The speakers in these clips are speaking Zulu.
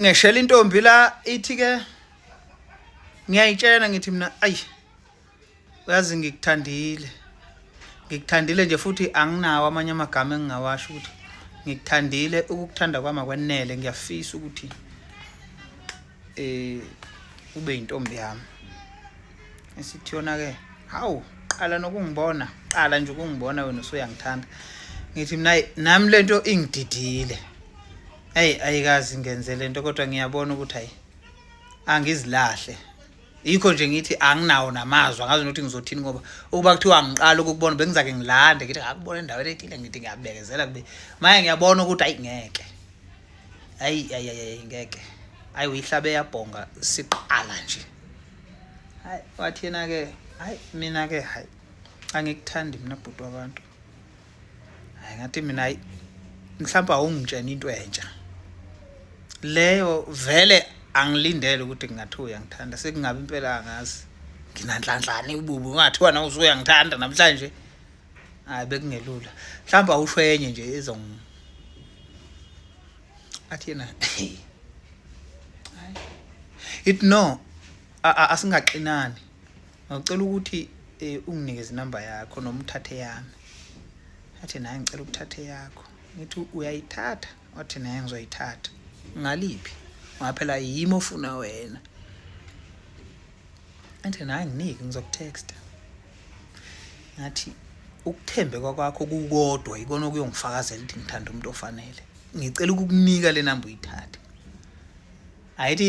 ngeshela intombi la ithi ke ngiyayitshela ngithi mina ayi uyazi ngikuthandile ngikuthandile nje futhi anginawo amanye amagama engingawasho ukuthi ngikuthandile ukukuthanda kwami akwenele ngiyafisa ukuthi eh ube intombi yami esithi yona ke hawu qala nokungibona qala nje ukungibona wena usuyangithanda ngithi mina nami lento ingididile eyi ayikazi ngenze le nto kodwa ngiyabona ukuthi hayi angizilahle yikho nje ngithi anginawo namazwi angazi nokuthi ngizothini ngoba ukuba kuthiwa ngiqala ukukubona bengizake ngilande ngithi ngakubona endaweni ethile ngithi ngiyabekezela kube maye ngiyabona ukuthi ayi ngeke ayi ayi ayi ngeke ayi uyihlabe yabhonga siqala nje hayi wathi yena-ke hayi mina-ke hayi angikuthandi mina bhuti wabantu hayi ngathi mina hayi mhlawumbe awungitshena into entsha leyo vele angilindele ukuthi kungathiwa uyangithanda sekungabe impela angazi nginanhlanhlane ububi ungathiwa na usuyangithanda namhlanje hayi bekungelula mhlawumbe awusho enye nje ezong athi yena it no asingaxinani ngicela ukuthi eh, unginikeze inamba yakho noma uthathe yami athi naye ngicela ukuthatha eyakho ngithi uyayithatha wathi naye ngizoyithatha ngaliphi ngaphela yimi ofuna wena athi naye nginike ngizokutexta ngathi ukuthembeka kwakho kukodwa yikona okuyongifakazela ukuthi ngithanda umuntu ofanele ngicela ukukunika le namba uyithathe ayithi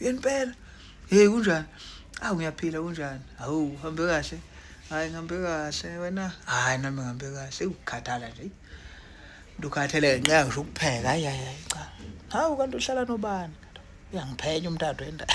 yempela hey kunjani awu ngiyaphila kunjani hawu uhambe kahle hayi ngihambe kahle wena hayi nami ngihambe kahle ukukhathala nje ndukhathele ngenxa ngisho ukupheka hayi hayi hayi cha hawu kanti uhlala nobani uyangiphenya umntado endaba